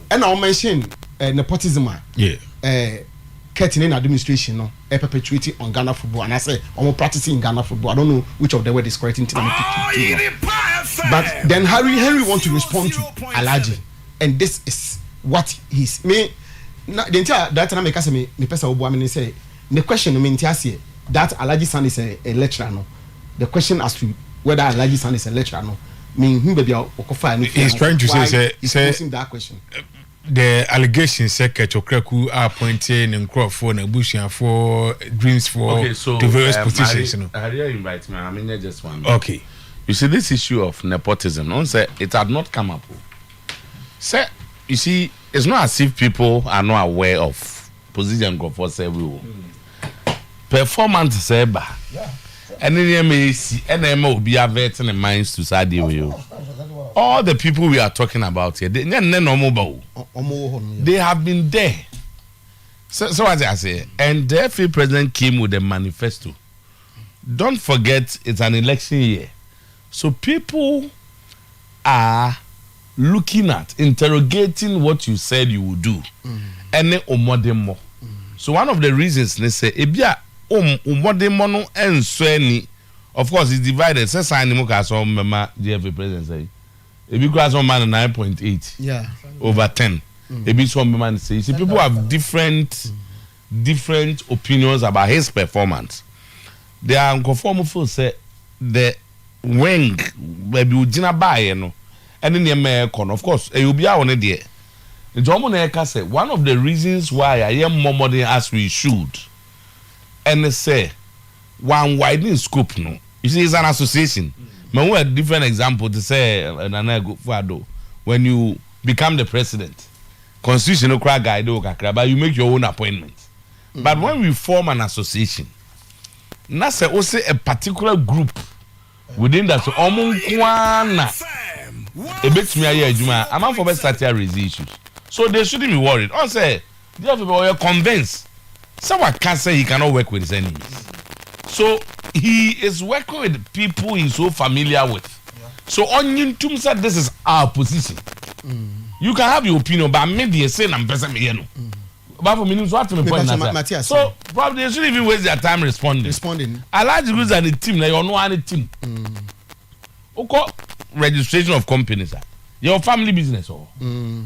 ɛna wɔn mention uh, nepotism a yeah. uh, Kurt ne administration no uh, perpetuate on Ghana football and I say I'm practicing Ghana football. I don't know which of the word is correct in Tina But then Harry Henry want to respond to Alaji and this is what he's me na the entire that time I make me me person will me say Ne question no mente aseɛ that Alhaji son is a lecturer no the question as to whether Alhaji son is a lecturer no menhu baabi a wɔkɔfaa no fii anaa why he's posing that question. The allegation sɛ Kɛtɔ Kraku a appointe ne nkorɔfoɔ n'abusuafoɔ dreams foɔ to various positions no. Okay so Maria invite me a menyɛ just one minute. Okay. You see this issue of nepotism no wohu sɛ it had not come up o sɛ you see it's not as if people are not aware of Position nkurɔfoɔ sɛbe wɔ mu. Performant sɛ ɛba. Ɛne nneɛma a ɛsi ɛna ɛma obi avert ne minds to saa adeɛ wei o. All the people we are talking about here, they nyɛ nnɛ na wɔn ba o. They have been there. So, so what I say, and the FA president came with a manifesto. Don't forget it's an election year. So people are looking at, interrogating what you said you will do ɛne wo mmɔdemmɔ. So one of the reasons ne sɛ ebi a wo mmɔdemmɔ no nsɔ ani. Of course it's divided sɛ sign no mu kaa sɛ ɔmmɛma JFA president sɛi. Ebi koraa sɛ ɔmma no nine point eight over ten. Ebi nso ɔmmɛma no sɛi. You see people have different. different opinions about his performance there are nkurɔfoɔ wɔn feel sɛ the wing baabi ogyina baayɛ no ɛne nneɛma ɛkɔ no of course ɛyɛ obiara wɔ ne deɛ nti wɔn na ɛka sɛ one of the reasons why a yɛn mmɔ mmɔden as we should ɛne sɛ one widening scope no you see it's an association ma hu a different example te sɛ Nana Akufo-Addo when you become the president. Constitution no koraa guide wo kakra but you make your own appointment. But when we form an association na sɛ wo se a particular group within that so ɔmo nko ara na ebetumi ayɛ adwuma a, amanfoɔ bɛ start a raise issues. So they shouldn't be worried. Ɔn sɛ, DFP ɔyɛ convince. Sɛ waka sɛ he cannot work with his enemies so he is working with people he is so familiar with so ɔnye ntom sɛ this is our position you can have your opinion but me deɛ sei na mpɛ sɛ meyɛ no bafo menim so ate me point na sɛ so probably they shouldn't even waste their time responding responding Alhaji Guza ne team na yɛ ɔno ara ne team wokɔ registration of companies a yɛwɔ family business wɔ hɔ.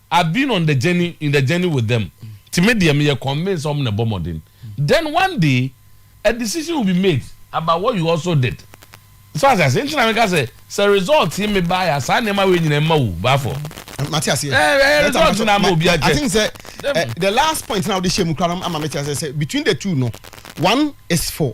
I've been on the journey in the journey with them nti me deɛ meyɛ convinced sɛ wɔn na ɛbɔ mmɔden then one day a decision will be made about what you also did so ase ase nti na meka sɛ sɛ result yi me baa ya saa nneɛma wei nyina ɛma wu baafɔ. mate aseɛ ɛɛ result na ama obi akyɛ. I think sɛ eh, the last point na wode hyɛ mu kora no ama me kyerɛ sɛ between the two no one is for.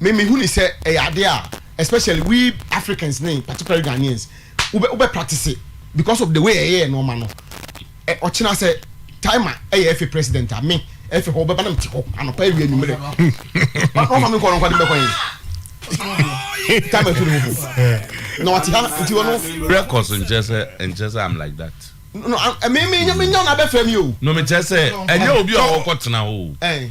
me me hu ne sɛ ɛyɛ ade a especially we Africans ne particularly Ghanaians wobɛ wobɛ practice because of the way ɛyɛ nneɛma no ɛ ɔkyena sɛ timer ɛyɛ ɛfɛ president a me ɛfɛ hɔ wobɛba na mete hɔ anɔpa awia nwumere ɔfa me nkɔ no nkɔ de mbɛkɔ yɛn time afi ne ho na wate ha nti wɔ no records nkyɛ sɛ nkyɛ sɛ I'm like that no me me nya me nya na bɛfrɛ me o no me kyɛ sɛ ɛnyɛ obi a ɔkɔ tena hɔ o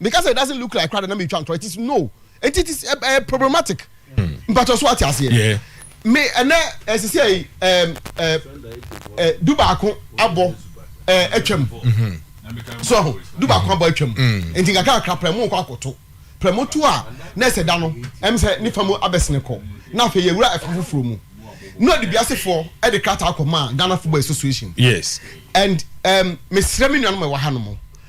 meka sɛ it doesn't look like kora de na metwa ntorɔ it is no nti it is ɛɛ eh, eh, problematic hmm. mpatɔ so ate aseɛ me ɛnɛ ɛsisi eh, ɛyi ɛɛ ɛɛ du baako abɔ ɛɛ atwam mm-hmm. so ɛho du baako mm-hmm. abɔ atwam mm. nti kakra kakra pɛrɛ mu nkɔ akoto pɛrɛ mu tu a na ɛsɛ da no ɛm sɛ nifa mu abɛsene kɔ na afei yɛ wura ɛfɛ foforɔ mu na ɔde biasefoɔ ɛde krataa kɔ maa ghana football association yes and um, mesrɛ me nuanom ɛwɔ ha no mu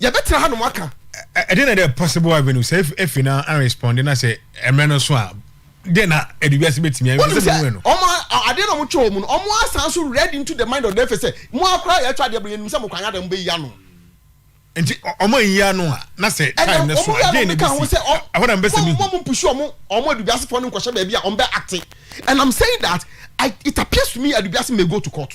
Yɛbɛtena hanom aka. Ɛde na ɛdɛ Possible Avenue sɛ efi na anresponde na sɛ mmerɛ no so a dɛ na ɛde wiase bɛtumi ayɛ sɛ mewɛ no. Ɔmo adeɛ na ɔmo twɛ ɔmo no ɔmo asan so read into the mind of the efe sɛ mo ara koraa yɛtwa adeɛ bere yɛnim sɛ mo kwan ada mo bɛyi ano. Nti ɔmo anyi ano a na sɛ time no so a dee na ɛbɛsi ɛhɔ na mbɛsɛ mehu. Mo mo mpushi ɔmo ɔmo adubiasefoɔ no nkɔhyɛ baabi a ɔmo bɛ acte and I'm saying that I, it appears to me adubiase may go to court.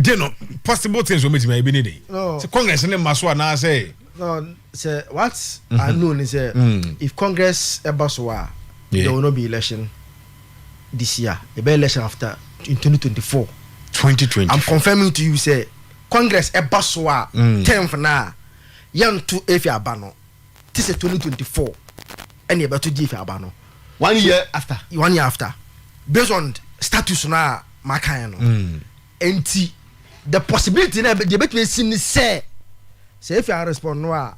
de no possible things wɔn bɛtumi ayɛ bi ne den sɛ congress ne mma so anaasɛ. sɛ what mm-hmm. i know ni sɛ mm. if congress ɛba so a there will not be election this year ɛbɛ election after in twenty twenty four. twenty twenty i'm confirming to you sɛ congress ɛba so a mm. tenth na yɛnto efi aba no. te sɛ twenty twenty four ɛna ɛbɛto gye fi aba no one year after one year after based on status no a maka yɛ no mm. nti the possibility na deɛ ɛbɛtumi asi ne sɛ sɛ efi arespond no a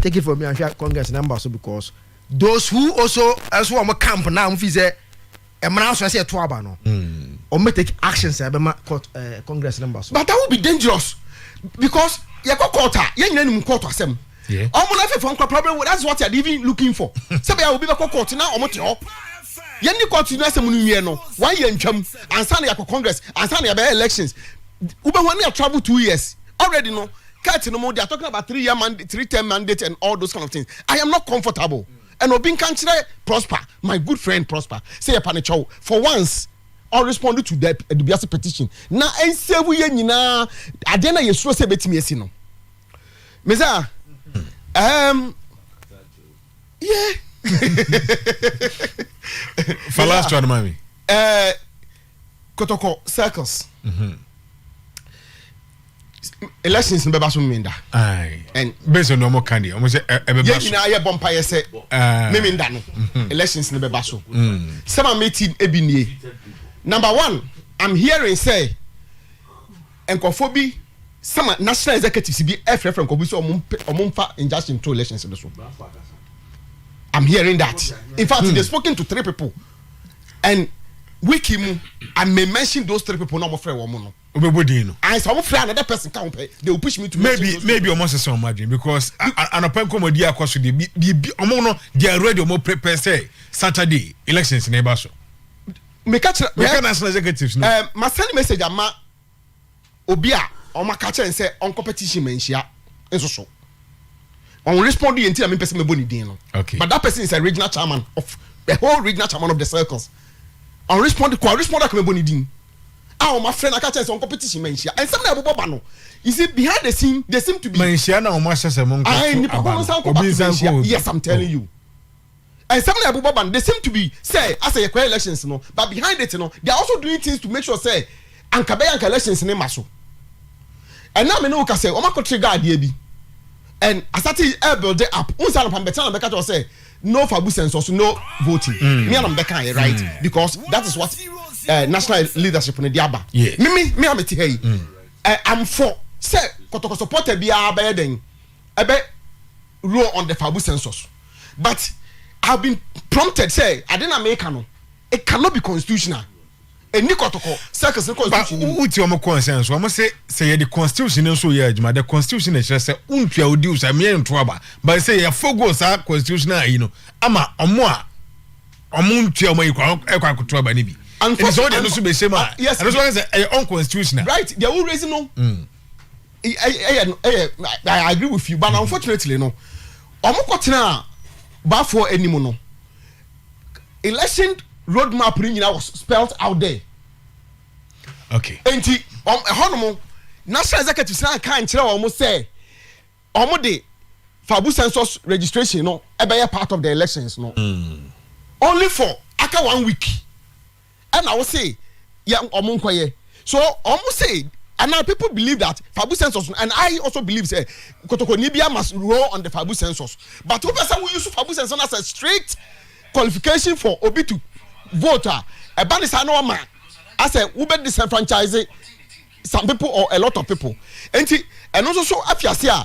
take it from me anhwɛ congress na mba so because those who also ɛso wɔn camp na wɔn fi sɛ mmara nso ɛsɛ ɛto aba no wɔn bɛ take actions a ɛbɛma court ɛɛ eh, congress no mba so. but that would be dangerous because yɛ kɔ court a yɛn nyinaa nim court asɛm wɔn na fɛfɛ nkɔ probably that's what they are even looking for sɛbi a obi bɛ kɔ court na wɔn te hɔ yɛn ni court ni asɛm no nwiɛ no wɔn ayɛ ntwam ansa na yɛ kɔ congress ansa na yɛ bɛ elections wobɛ wɔn ni yɛ travel two years already no court no mo they are talking about three year mandate three term mandate and all those kind of things i am not comfortable. Mm. ɛna obi nka nkyerɛ prosper my good friend prosper sɛ yɛpa ne kyɛw for once or respond to the adubiase petition na ɛnsɛvu yɛ nyinaa adeɛ na yɛsuro sɛ ɛbɛtumi asi no mesa um, yeah falastra no mami uh, kɔtɔkɔ circles elections ni bɛba so mmenda bɛsɛ na ɔmo kan deɛ ɔmo sɛ ɛbɛba so yɛn nyinaa yɛ bɔ mpaeɛ sɛ mmenda no mhm. elections ni bɛba so mm. sɛ ma meti ebi nie number one i'm hearing sɛ nkɔfo bi sama national executives bi ɛfrɛfrɛ nkɔfo bi sɛ ɔmo mpɛ ɔmo nfa injunction to elections no so i'm hearing that in fact mm. they spoken to three people and wiki mu i may mention those three people na ɔmo frɛ wɔn no. o bɛ bɔ din no. ayi sɛ ɔmo frɛ another person ka ho pɛ they will push me to mention maybe those maybe ɔmo sese ɔmo adwene because anɔpɛ nkɔmɔdi akɔ so de biribi ɔmo no they are ready ɔmo prepare sɛ saturday elections na ɛba so. meka kyerɛ meka national executives no. ɛɛ masani message ama. obi a wɔaka kyerɛ no sɛ ɔnkɔ petition ma nhyia nso so wɔn respond yɛ nti na mempɛ sɛ mɛbɔ ne din no okay. but that person is a regional chairman of the whole regional chairman of the circles wɔn respond kɔ respond akɔ mɛbɔ ne din a wɔn afrɛ no aka kyerɛ sɛ ɔnkɔ petition ma nhyia ɛnsɛm na ɛbobɔ ba no you see behind the scene they seem to be ma nhyia na wɔn ahyɛ sɛ mo nkɔ to aba no obi nsa nkɔ yes i'm telling you. Nsɛm na ɛbobɔ ba no, they seem to be sɛ asɛ yɛkɔyɛ elections no but behind it no they are also doing things to make sure sɛ anka bɛyɛ anka elections no mma so. Ɛnnɛ a me ne wo kasɛ wɔakɔtre gaa adeɛ bi and asate rebuild up. Wo nsɛ anɔpa mebɛtena na mɛka kyerɛ wo sɛ no for Abu Census, no voting. Mm. Me a na mebɛka yɛ right mm. because that is what uh, national leadership no de aba. Yes. Me me me a mete ha yi. Mm. Uh, I'm for sɛ kɔtɔkɔ supporter biara bɛyɛ dɛn ɛbɛ roll on the Fabu census. but i have been prompted sɛ ade na meka no it cannot be constitutional ɛni kɔtɔkɔ circles ne constitution ni mu. wotie wɔn concern so wɔn se sɛ yɛde constitution no nso yɛ adwuma the constitution na ɛkyerɛ sɛ wontua odi usa mmea nto aba but sɛ yɛfogo saa constitution ayi no ama wɔn a wɔn ntua wɔn ayi kora ɛkɔ akoto aba no bi ɛdi sɛ wɔde ɛno so bɛhyɛ mu a ɛno so wɔn sɛ ɛyɛ unconstitutional. right deɛ wo raise no. Mm. ɛyɛ no ɛyɛ i agree with you but mm-hmm. unfortunately no wɔn kɔ tena baafoɔ anim no election road map ni nyinaa was spelled out there. okay. nti wɔn ɛhɔ nom national executive san kan kyerɛ wɔn sɛ wɔn de fabu census registration no ɛbɛyɛ part of the elections no. Mm. only for aka one week. ɛna wo se yɛ ɔmo nkɔyɛ so ɔmo se ana people believe that fabu census and i also believe sɛ kotokoni bia must roll on the fabu census but wopɛ sɛ wo use fabu census as a strict qualification for obi to vote a ɛba ne saa na ɔma asɛ wobɛ disenfranchise some people or a lot of people nti ɛno nso so afi ase a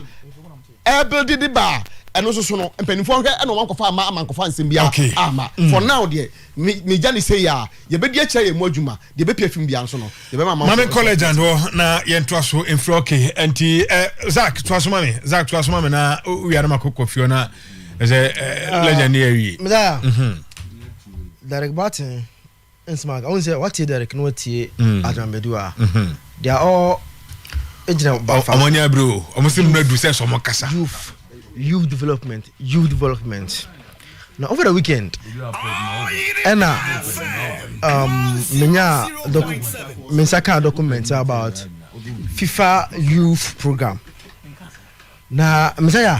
ɛbɛde de ba a ɛno nso so no mpanimfoɔ hwɛ ɛna wɔn akɔfa ama ama nkɔfa nsɛm biara Okay. ama Mm. for now deɛ me me gya ne sei a yɛbɛdi akyerɛ yɛn mu adwuma deɛ ɛbɛpia fim biara nso no yɛbɛma ama mame college and hɔ na yɛntoa so mfiri okay nti eh, zak toa so ma me zak toa so ma me na wia no makɔkɔ fio na ɛsɛ eh, Ah. legend ne awie Meda. Mhm. Derek Barton Nsmak, wohu sɛ woatie Derek na woatie Adram Badu a, they are all egyina bafa. Ɔmo anya abiri o, ɔmo si mmerɛ du sɛ sɛ ɔmo kasa. Youth, youth development, youth development. Na over the weekend, ɛna um, menya me nsa kaa document about FIFA youth program. Na mesɛ ya.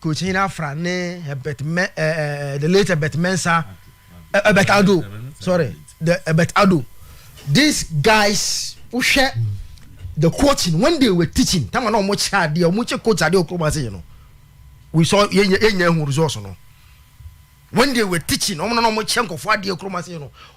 Kokyinyin Afra ne Herbert Mɛ ɛɛ the late Herbert Mensah ɛ Herbert Ado sorry the Herbert Ado these guys wohwɛ the coaching when they were teaching tama na wɔn kyɛ adeɛ wɔn kyɛ coach adeɛ okuro mu ase yɛ no we saw yɛ yɛ yɛ nyɛ ehu results no when they were teaching wɔn na na wɔn kyɛ nkɔfo adeɛ okuro mu ase yɛ no.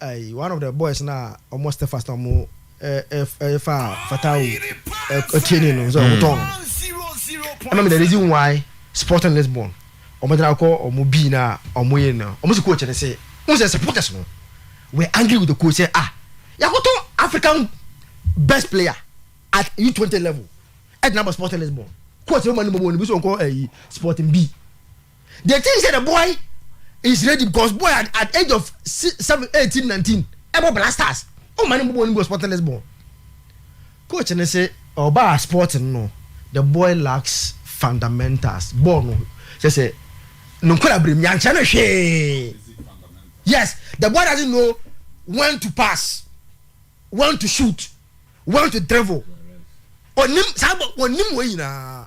Aii one of the boys na ɔmo Stephas na ɔmo ɛɛ ɛfa Fatawu ɛɛ training no sɛ ɔmo tɔn no ɛna mi the reason why Sporting Lisbon ɔmo gyina kɔ ɔmo bii na ɔmo yɛ no ɔmo si coach ne se n sɛ supporters no were angry with the coach sɛ ah yakɔtɔ African best player at U twenty level ɛgyina bɔ Sporting Lisbon coach no ma ne bɔ wɔn ne bi so ɔnkɔ ɛyi Sporting B. they think say the boy is ready because boy at, at age of seven eighteen nineteen ɛbɔ blasters ɔn ma ne mbɔ bɔɔl ne mu wɔ sporting lisbon coach ne se ɔbaa sporting no the boy lacks fundamentals bɔɔl no sɛ sɛ ne nkɔla abirem yankyɛn no hwee yes the boy doesn't know when to pass when to shoot when to dribble onim saa bɔ onim wɔn nyinaa.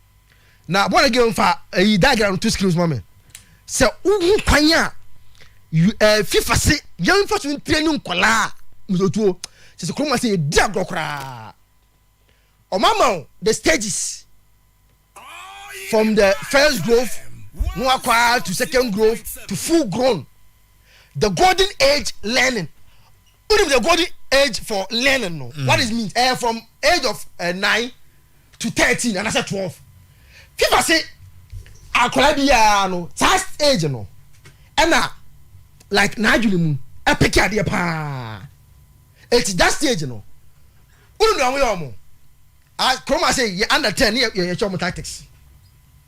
na born again fa ɛyi diagram to screens ma me sɛ wohu kwan a ɛɛ fifa se yɛn fa so ntirɛ ne nkɔlaa musotuo sɛ sɛ kuroma sɛ yɛdi agorɔ koraa ɔmama wo the stages from the first growth no akɔa to second growth to full grown the golden age learning Wonim the golden age for learning no mm. what is mean ɛyɛ eh, from age of uh, eh, nine to thirteen and I said twelve fifa se akwadaa biara no saa age no ɛna like n'adwene mu ɛpeke eh, adeɛ paa eti that stage no wonim deɛ wɔn yɛ wɔn kurom ase yɛ under ten yɛ yɛ kyɛ wɔn tactics.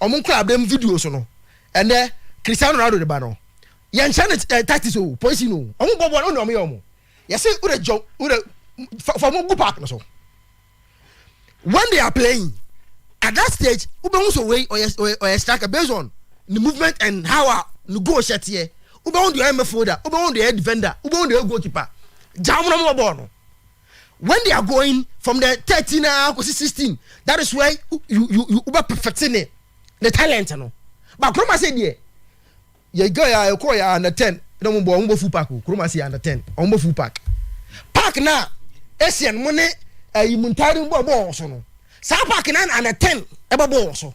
Wɔn nkorabɛm videos no, ɛnnɛ Cristiano Ronaldo de ba no, yɛnkyerɛ no eh, tactics o, poison o, wɔn bɔ bɔɔl no, wɔn yɛ wɔn. Yɛsɛ wura gyɔ wura fa fa wɔn gu park no so. When they are playing, at that stage, wobɛhu sɛ wei ɔyɛ ɔyɛ ɔyɛ striker based on the movement and how a ne goal hyɛ teɛ. Wobɛhu deɛ ɔyɛ midfielder, wobɛhu deɛ ɔyɛ defender, wobɛhu deɛ ɔyɛ goalkeeper. Gya wɔn na wɔn bɔ bɔɔl no. when they are going from the thirteen ah kosi sixteen that is where you you you you bɛ perfect ne ne talent no ba kuroma se deɛ yɛ girl a ɛkɔ yɛ under ten na wɔn bɔ wɔn bɔ full pack o kuroma se under ten wɔn bɔ full pack pack na asian mo ne ɛyi eh, mu ntaare bɔ bɔ wɔn so no saa pack na under ten ɛbɛ bɔ wɔn so.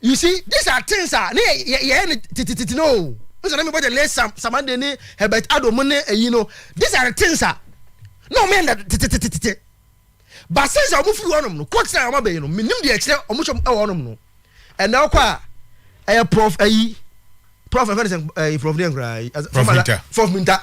You see, these are things a ne yɛ yɛ yɛ ne titititi no o. N sɛ na mi bɔ jɛ ne sam samande ne Herbert Ado mu ne eyi no. These are the things a na wɔn yɛ ne tititititi. Ba since a wɔn firi hɔ nom no, kɔ tena wɔn abɛyi no, mi nim deɛ ɛkyerɛ wɔn hyɛ ɛwɔ nom no. Ɛnna ɔkɔ a ɛyɛ prof ɛyi prof ɛfɛ ne sɛ ɛyi prof deɛ nkoraa ɛyi. Prof Minta. Prof Minta.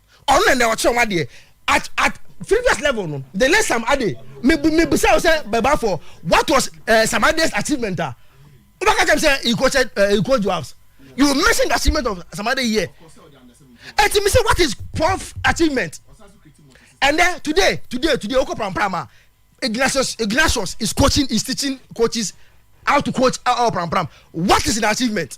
ɔno na ɛnna ɔkyerɛ wɔn adeɛ at at previous level no the late sam ade mebu mebisa wo sɛ bɛba for what was uh, sam ade's achievement a wobɛka kyɛm sɛ he coached uh, he coached jobs you mention the achievement of sam ade here ɛti mi sɛ what is prof achievement and then today today today okɔ pramprama ignatius ignatius is coaching is teaching coaches how to coach uh, uh, prampram what is the achievement.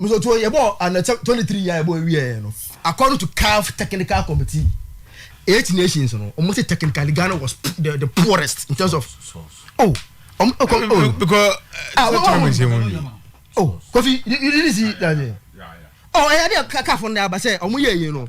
Me nso to yɛ bɔɔ and sɛ twenty three yɛ bɔ ewie yɛ no according to CAF technical committee eight nations no wɔn sɛ technically Ghana was the the poorest in terms of oh wɔn oh, kɔ oh because ah wɔn wɔn wɔn oh Kofi you you didn't see that day oh ɛyɛ de CAF na aba sɛ wɔn yɛ yie no.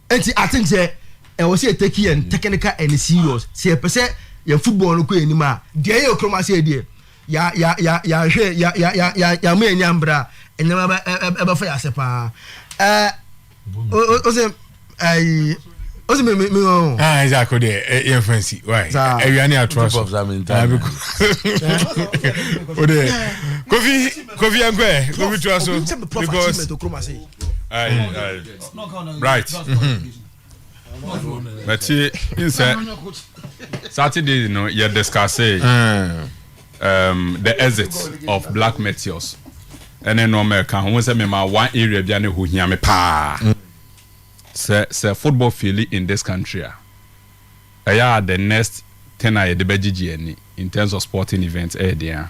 Enti I think sɛ ɛwɔ sɛ yɛ take yɛn technical ɛne serious sɛ yɛ pɛ sɛ yɛn football no kɔ yɛn anim a. Deɛ ɛyɛ okurom aseɛ deɛ yɛ yɛ yɛ yɛ anhwɛ yɛ yɛ yɛ yɛ yɛ ama yɛn ani ambre a nneɛma bɛ ɛ ɛ ɛbɛfa yɛ ase paa. Ɛɛ o o o sɛ ɛyi o sɛ mi mi mi o. Ah ɛsɛ akɔ deɛ yɛn fa nsi why ɛwia ne ato aso. O de kofi kofi ɛnkɔ yɛ kofi to aso because. Ayi ayi. bright bɛte nsɛ saturday no yɛ discusse eh. um, the exit of black meteors ɛne nɔɔma ɛka ho sɛ mema one area bia ne ɛhɔ hia me paa sɛ sɛ football fili in this country a Ɛyɛ a the next thing a yɛde bɛgyegye ani in terms of sporting events yɛ deɛn a?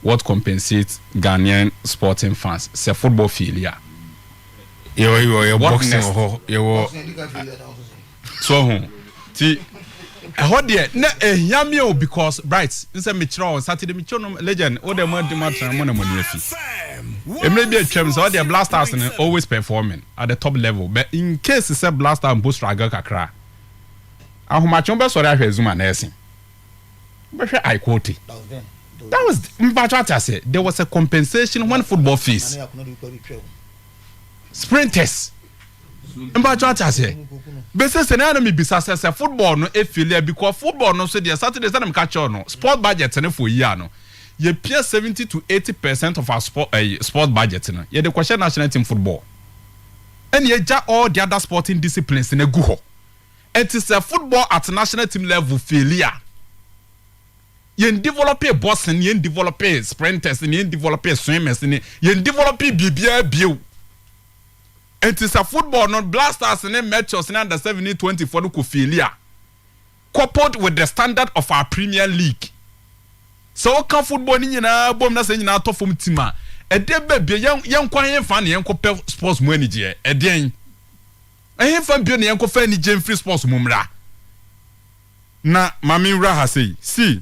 What compensates Ghanaian sporting fans sɛ football faili a? Yɛwɔ boxing wɔ hɔ, yɛwɔ so ɔho nti ɛhɔ deɛ na ɛhia me o because Bright nsɛ mekyerɛ wɔn Saturday metwo no legend wo deɛ moadi mo atena mo na mo ani afi mmerɛ bi atwam sɛ ɔdeɛ Black Stars no always performing at the top level but incase sɛ Blaster mpo struggle kakra a, Ahomakye wo bɛsɔre ahwɛ Azuma na ɛsen. Wo bɛhwɛ Aikote. That was the, mpakyɛ wate aseɛ, there was a compensation when football fees. Sprinters. Mpakyɛ wate aseɛ. Bɛsɛ sɛ na na mebisa sɛ sɛ football no ɛfili a because football no nso deɛ Saturday sɛ na meka kyɛw no sport budget no for yi ano. Yɛpia seventy to eighty percent of our sport eh, sports budget no yɛde kɔhyɛ national team football. Ɛna yɛgya all the other sporting disciplines no agu hɔ. Ɛnti sɛ football at national team level faili a, yɛn developee boxing, yɛn developee sprinters, yɛn developee swimmers, yɛn developee biribiara bio. Ɛnti sɛ football no Black Stars ne Metros ne under seven ne twenty foɔ no kɔ faili a, Coupled with the standard of our Premier League, sɛ woka football no nyinaa bom na sɛ ne nyinaa tɔ fam tim a, ɛdeɛ bɛ bio? Yɛn, yɛnkɔ hefa na yɛnkɔpɛ sports mu anigyeɛ? Ɛdeɛn? Ɛhefa bio na yɛnkɔfa anigyeɛ mfiri sports mu mmra? Na ma menwura ha sei. See.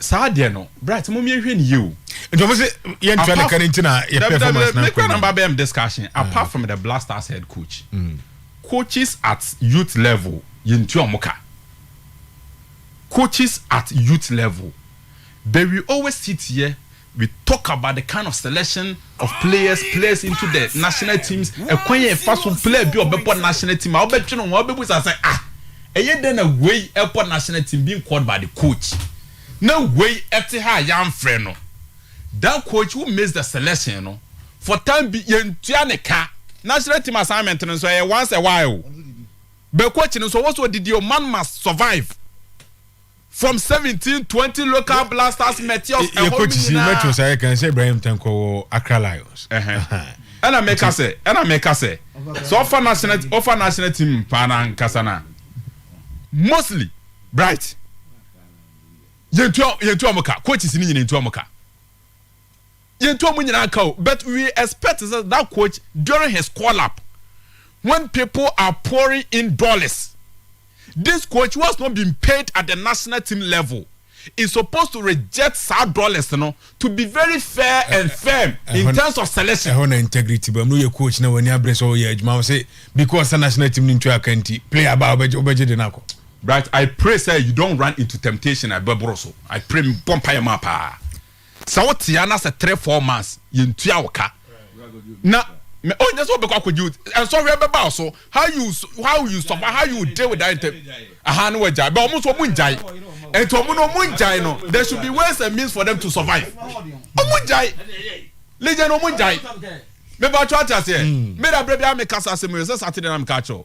Saa deɛ no, Bright, mom yɛnhwɛ no yie o. Nkurɔfo se yɛntua ne ka no nti na yɛ performance no akɔ anim. Bɛm discussion ah. apart from the Black Stars head coach, mm. coaches at youth level yɛntua wɔn ka. Coaches at youth level, but we always sit here. We talk about the kind of selection of players players into the national teams ɛkwan yɛ fa so player bi ɔbɛbɔ national team a wobɛtwe no ho wobɛbu sa sɛ ah ɛyɛ dɛn na wei ɛbɔ national team being called by the coach na wei ɛte ha a yɛamfrɛ no that coach who makes the selection no for time bi yɛntua ne ka national team assignment no nso ɛyɛ once a while bɛ coach no nso ɔwɔ so ɔdidi o man must survive from seventeen twenty local blasters mɛtiɔs ɛhɔ mu nyinaa. yɛ coach si ayɛ kan sɛ ibrahim tanko wɔ accra lions. ɛna mɛka sɛ ɛna mɛka sɛ sɛ ɔfa national ɔfa national team paa na nkasa na mostly bright yɛntua yɛntua ɔmo ka coach si ne nyina yɛntua ɔmo ka. yɛntu wɔn nyinaa nka o but we expect sɛ that coach during his call up when people are pouring in dollars this coach who has not been paid at the national team level is supposed to reject saa dollars no to be very fair eh, and eh, firm eh, in terms of selection. ɛhɔ na integrity bɛ mu yɛ coach na wɔn abere sɛ ɔyɛ adwuma sɛ because sɛ national team ni ntua aka nti player ba ɔbɛgye ɔbɛgye de n'akɔ. right i pray say you don run into temptation abɛboro so i pray bɔ mpa yɛ mu apaa. sɛ wo tea na sɛ three four months yɛn tua wo ka na mɛ o nyɛ sɛ ɔbɛkɔ akɔgye o nsɔhwɛ bɛba o so how you how you sɔfa how you deal with that ntɛm aha ne wɔgyae bɛ ɔmo so ɔmo ngyae ɛnti ɔmo no ɔmo ngyae no there should be ways and means for them to survive ɔmo ngyae legend ɔmo ngyae mɛba atwa ate aseɛ mɛda abirɛ bi a mɛkasa asɛm yɛ sɛ saturday na mɛka akyɛw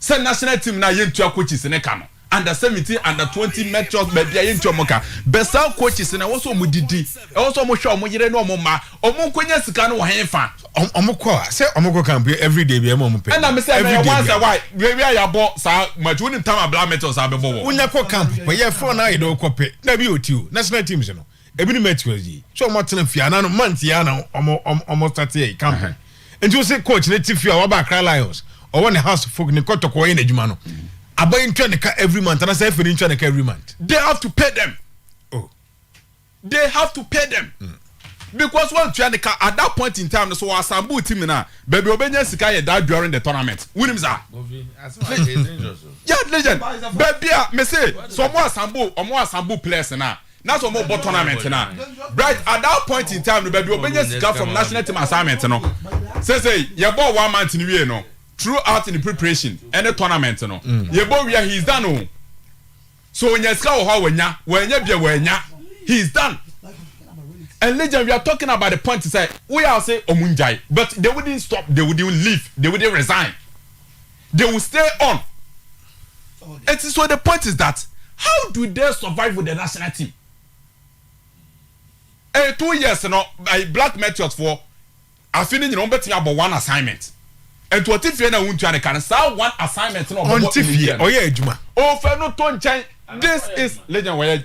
sɛ national team no a yɛntua coaches no ka no under seventeen under twenty metros baabi a yɛntua wɔn ka bɛ saa coaches no ɛwɔ sɛ wɔn didi ɛwɔ sɛ wɔn hwɛ wɔn yere ne wɔn mma wɔn nkonya sika no wɔ hɛn fa. wɔn kɔ a sɛ wɔn kɔ camp everyday bi ɛma wɔn pɛ. ɛna mi sɛ ɛna yɛ once a while wia wia yabɔ saa match wɔn nim tam abla metros abɛbɔ wɔ. wonya kɔ camp pɛ yɛ fɔn na ayɛ dɛ ɔkɔ pɛ na bi yɛ oti o national teams no. Ebi ne Matthew yi. Sɛ wɔn atena fie anan no months yɛ ana wɔn wɔn start yɛ campaign. Nti o se coach ne ti fie a waba Accra Lions ɔwɔ ne house folk ne kɔtɔkɔ ɔyɛ n'adwuma no. Aba yi ntua ne ka every month anasɛ efe ne ntua ne ka every month. They have to pay them. Oh. They have to pay them. Mm. Because one ntua ne ka at that point in time no so assemble team na baby obenya sika yɛ that during the tournament. Wunim sa. Yeah, legend. Baby a me say so mo assemble, mo assemble players na. na sɛ wɔbɔ tournament na bright at that point in time no baabi ɔbɛnya sika from national team assignment no sɛsɛ yɛbɔ one month no wie no throughout in preparation ɛne tournament no mm. yɛbɔ wia he is done o oh. so ɔnya sika wɔ hɔ a wɔnya wɔanya bia wɔanya he is done and legend we are talking about the point sɛ woyɛ ase ɔmo ngyae but they wouldn't stop they wouldn't leave they wouldn't resign. They will stay on. And so the point is that how do they survive with the national team? Eh, two years no, eh, Black Meteors for afi ne nyina wɔbɛtumi abɔ one assignment. And to ɔte fie na wontua ne ka no saa one assignment na ɔbɛbɔ ɔte fie ɔyɛ adwuma. Ɔfɛ no to nkyɛn. This is legend wɔyɛ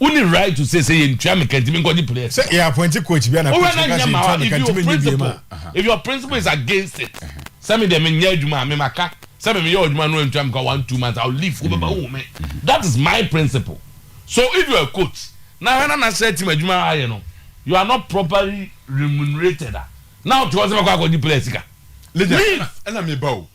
Wo ne right to say sɛ yɛ ntua me ka nti me nkɔ gye plea. Sɛ yɛ appointi coach bia na coach no ka sɛ yɛ ntua me ka nti me nyɛ biem a. If your principle is against it sɛ me deɛ me nyɛ adwuma a me ma ka sɛ me me yɛ adwuma no antua me ka one two months I will leave wo bɛba wo hu me that is my principle so if you are a coach na hana national team adwuma a ayɛ no you are not properly remunerated a na wo te hɔ sɛ bɛkɔ akɔ gye plea sika leave.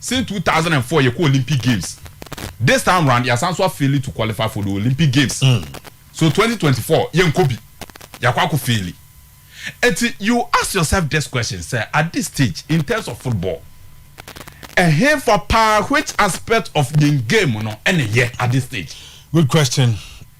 Since two thousand and four yɛ kɔ Olympic games this time round yɛ asan so a faili to qualify for the Olympic games so twenty twenty four yɛ nkɔ bi yɛ akɔ akɔ faili nti you ask yourself this question sɛ at this stage in terms of football ɛhenfa paa which aspect of yɛn game no ɛna ɛyɛ at this stage. Good question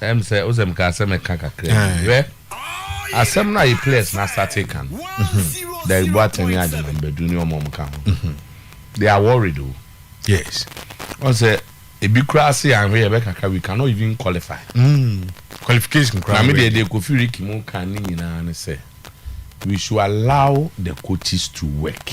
ɛm sɛ wosɛ meka sɛ meka kakra bi hwɛ asɛm no a yɛ players no asate ka no Derrick Boateng ne Agyemang Badu ne ɔmɔm ka ho they are worried o yes wọn sɛ ebi koraa se anhwɛ yɛ bɛ kaka we cannot even qualify mm. qualification koraa na me deɛ deɛ kofi riki mu ka ne nyinaa ne sɛ we should allow the coaches to work.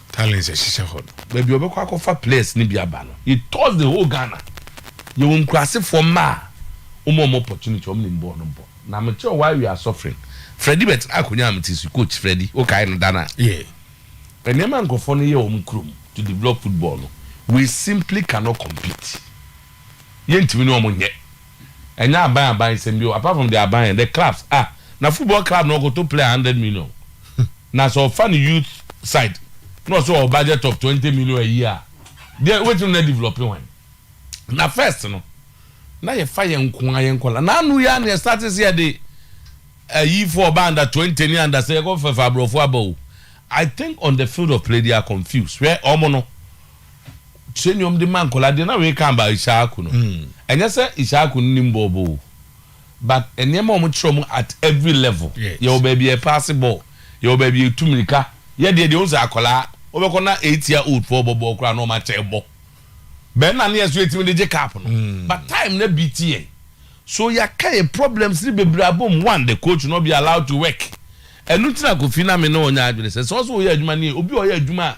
Talents ɛhyehyɛ hɔ no. Baabi a ɔbɛkɔ akɔfa players no bi aba no he tours the whole Ghana. Yɛwɔ nkurasefoɔ mma a wɔma wɔn opportunity, wɔn nim bɔɔl no bɔ. Na me kyerɛ wo while we are suffering, Freddie bɛtena akonnwa a mete so yi, coach Freddie, wokae no da no a? Yeah. Nneɛma a nkurɔfoɔ no yɛ wɔ wɔn kurom to develop football no, we simply cannot compete. Yɛntumi ne wɔn nyɛ. ɛnyɛ aban aban nsɛm bio apart from the aban the clubs ah na football club na ɔkɔtɔ player hundred million na sɛ ɔfa ne youth side na ɔsɛ ɔwɔ budget of twenty million a year a deɛ wobɛtumi na develop hwan na first no na yɛfa yɛn nkoa yɛn nkɔla na ano yɛ a na yɛstate sɛ yɛde ayifoɔ ɔba under twenty ne under sɛ yɛkɔfɛfa aborɔfo aba o I think on the field of play they are confused hwɛ ɔmo no kyerɛ nnwom de ma nkwadaa deɛ na reka about Ishaku no ɛnyɛ sɛ Ishaku no nim bɔɔl bɔ o but nneɛma a wɔkyerɛ wɔn at every level yɛwɔ baabi a yɛpaase bɔɔl yɛwɔ baabi a yɛtu mmirika yɛ deɛ deɛ wɔn sɛ akwadaa wɔbɛkɔ na eight year old foɔ bɔ bɔɔl koraa na wɔn akyɛ ɛbɔ bɛn na ne yɛ so yɛtumi de gye cup no hmm. but time na bi ti yɛn so yɛaka yɛ problems ne bebree abom one the coach no be allowed to work ɛnu ti na kofi na me ne wɔn nyɛ adwene sɛ sɛ ɔsɛ wɔyɛ adwuma ne obi a ɔyɛ adwuma a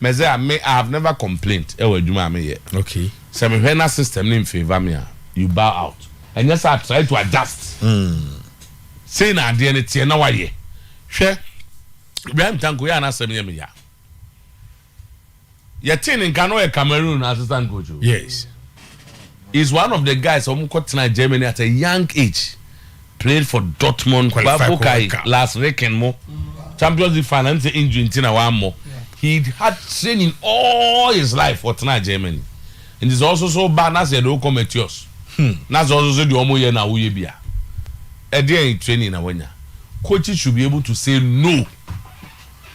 Mɛse a me I have never complaint wɔ adwuma a me yɛ. Okay. Sɛ me hwɛ na system no nfavour me a, you bow out. Ɛnyɛ saa try to adjust. Sei na adeɛ no teɛ na wayɛ. Hwɛ Ibrahim Tanko yɛ a n'asɛm yɛ me ya. Yɛtee no nka na ɔyɛ Cameroon assistant coach o. Yes. He is one of the guys a wɔn kɔ tenaa Germany at a young age, played for Dortmund, Babokai, Lars Ricken mo Champions League final ɛm sɛ injury nti na wammɔ, he had training all his life wɔ tenaa Germany, nti sɛ ɔsoso wo ba na sɛ yɛde wo kɔ Matthias na sɛ ɔsoso deɛ wɔn yɛ na woyɛ bi a, ɛdeɛn training na wanya? Coaches should be able to say no,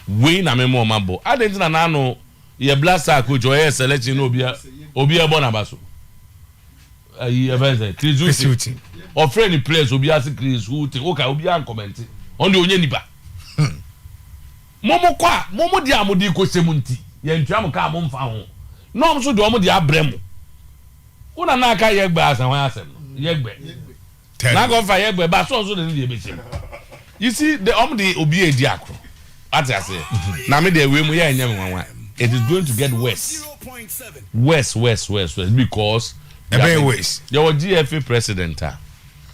wei na mema wɔn abɔ, adɛn nti na n'ano. Yɛ black star coach ɔyɛ selection na obi obi ɛbɔ n'aba so ayi ɛfɛn sɛ Chris Hughton ɔfrɛ ni players obi ase Chris Hughton oka obi a nkɔmɛnti ɔn de onye nipa mo mo kɔ a mo mo de a mo de kɔ hyɛ mu nti yɛ ntua mo kaa mo nfa ho na ɔmo so de ɔmo de abrɛ mo wo na na aka yɛ gbɛ asɛn hɔn asɛm no yɛ gbɛ. Tell me. N'akɔ nfa yɛ bɔ ɛba so ɔso de ne deɛ bɛhyɛ mu. You see de ɔmo de obi edi akoro. Wate aseɛ? Na me deɛ wei mu yɛ ɛnyɛ me nwanwa. It is going to get worse. Worse worse worse worse because. Ɛbɛyɛ worse. Yɛ wɔ GFA president a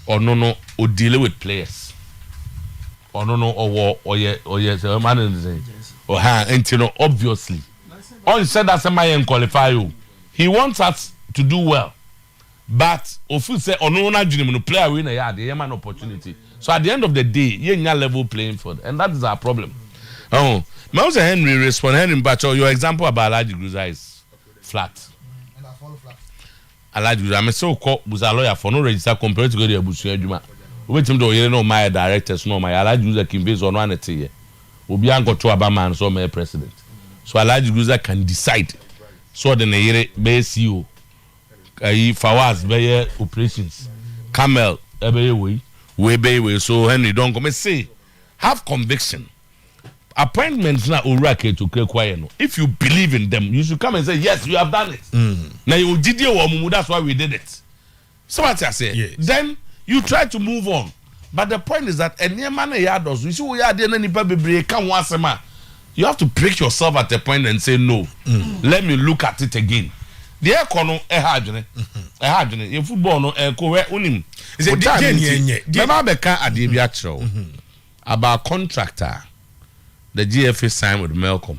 ɔno no o deal with players. Ɔno no ɔwɔ ɔyɛ ɔyɛ sɛ ɔma ne ne sɛ. Ɔha nti no obviously. Ɔnhyɛ da sɛ ma yɛn qualify o. He wants us to do well. but ofeel sɛ ɔno wɔ n'adwene mu no player wei na ɛyɛ adeɛ yɛma no opportunity so at the end of the day yɛnnya level playing field and that is our problem oh mahu sɛ Henry respond Henry mpakyɛw your example about Alhaji Gruza is flat Alhaji Gruza mese wo kɔ busa lawyer fɔ no register comparative kɔ de abusua adwuma wobɛtumi de ɔyere ne ɔma yɛ directors na ɔma yɛ Alhaji Gruza kimfei sɛ ɔno ane teyɛ obi ankɔto aba maa no sɛ ɔmɛyɛ president so Alhaji Gruza can decide sɛ ɔde ne yere bɛyɛ CEO Ayi Fawaz bɛyɛ operations Carmel ɛbɛyɛ wei wei bɛyɛ wei so Henry Donkor me se have conviction appointments na owura Ketokura kura yɛ no if you believe in them you should come and say yes you have done it mm. na yɛ ogyidie wɔ ɔmo mu that's why we did it so wate aseɛ then you try to move on. But the point is that nneɛma no yɛ adɔso. You see woyɛ adeɛ na nipa bebree ka ho asɛm a, you have to prick yourself at a point and say no, let me look at it again. Deɛ ɛkɔ no ɛha adwene, ɛha adwene. Yɛ football no ɛkɔ hwɛ wonim. Wo time nti, mɛba abɛka adeɛ bi akyerɛ wo about contract a the GFA signed with Melcom.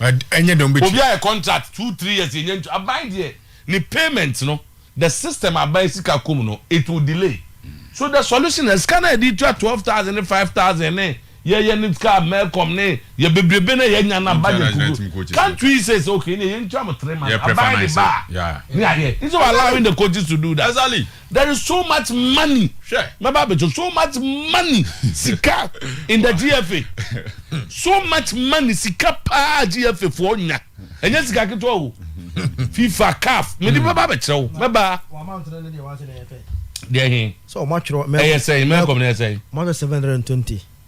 ɛnyɛ dɛn ɔbɛtua. Obi ayɛ contract two three years yɛnya ntua aban deɛ ne payment no the system aban sika kɔ mu no it will delay so the solution na sika no a yɛde tua twelve thousand ne five thousand ne yɛyɛ ne sika mɛkɔm ne yɛ bebrebe no a yɛnya no a budget kuku can't we say sɛ okay ne yɛntua mo three months aban ne ba a ne ayɛ instead of allowing the coaches to do that. There is so much money hwɛ mɛba abɛkyɛ so much money sika in the GFA so much money sika paa GFA foɔ nya ɛnyɛ sika ketewa o FIFA CAF mede hmm. bɛba abɛkyerɛ wo mɛba deɛ he ɛyɛ sɛn mɛkɔm no ɛyɛ sɛn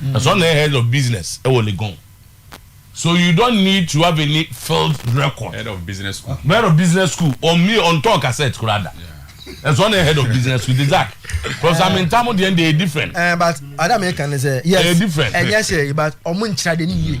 Na so ɔno na yɛ head of business wɔ Legon. So you don't need to have any field record. Head of business school. Head of business school ɔmmie ɔntɔn cassette koraa da. Na so ɔno na yɛ head of business school. De Zach, Professor Amintah mo deɛ no deɛ ɛyɛ different. Ɛɛ but ade a meka ne sɛ yes ɛyɛ different. Ɛnyɛ hwee but wɔn nkyerɛ ade no yie.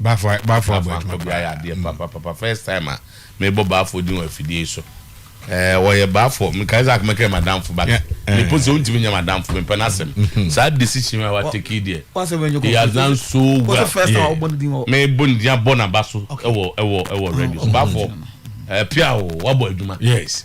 Bafo a bafo abɔ adwuma paa. Bafo ayɛ adeɛ papa papa first time a me bɔ bafo din wɔ afidie yi so ɛɛ wɔyɛ bafo me kae sɛ akoma kɛ madamfo but me po sɛ ontimi nyɛ madamfo me pɛ na sɛm saa decision a wa take yi deɛ he has done so well yeah me bɔ ne din abɔ na ba so ɛwɔ ɛwɔ ɛwɔ radio so bafo ɛɛ pia o wa bɔ adwuma yes.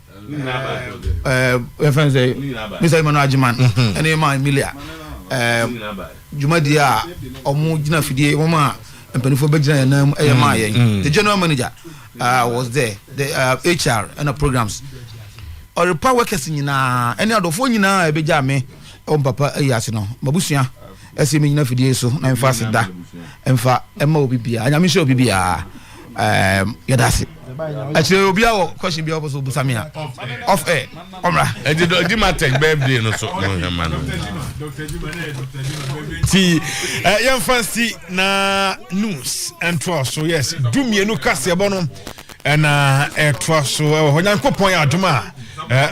yɛfrɛ no sɛ mr emmanuel agyeman ɛne ma emilia dwumadie a ɔmo gyina fidie wɔn a mpanimfoɔ bɛgyina yɛn nan mu ɛyɛ maa yɛn the general manager uh, was there the uh, hr ɛna programs ɔrepa workers nyinaa ɛne adɔfoɔ nyinaa ɛbɛgya me ɛwɔ mpapa ayi ase no mabusua ɛsɛ menyina fidie so na mfa ase da mfa ɛma obi biara nyame hyɛ obi biara Um, yeah, that's it. Actually, obi awo question bi oboso obusa me a. Off air. Omra. Edi do di ma tech birthday no so no he man. Ti eh yan fancy na news and so yes. Du mienu kase ebo no. Ɛna ɛtoa so ɛwɔ hɔ nyankopɔn yɛ adom a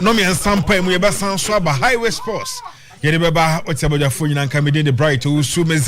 no mmiɛnsa mpa mu yɛbɛsan so aba highway sports yɛde bɛba ɔte abɔdwafoɔ nyina nka mede de bright ɔwusu meza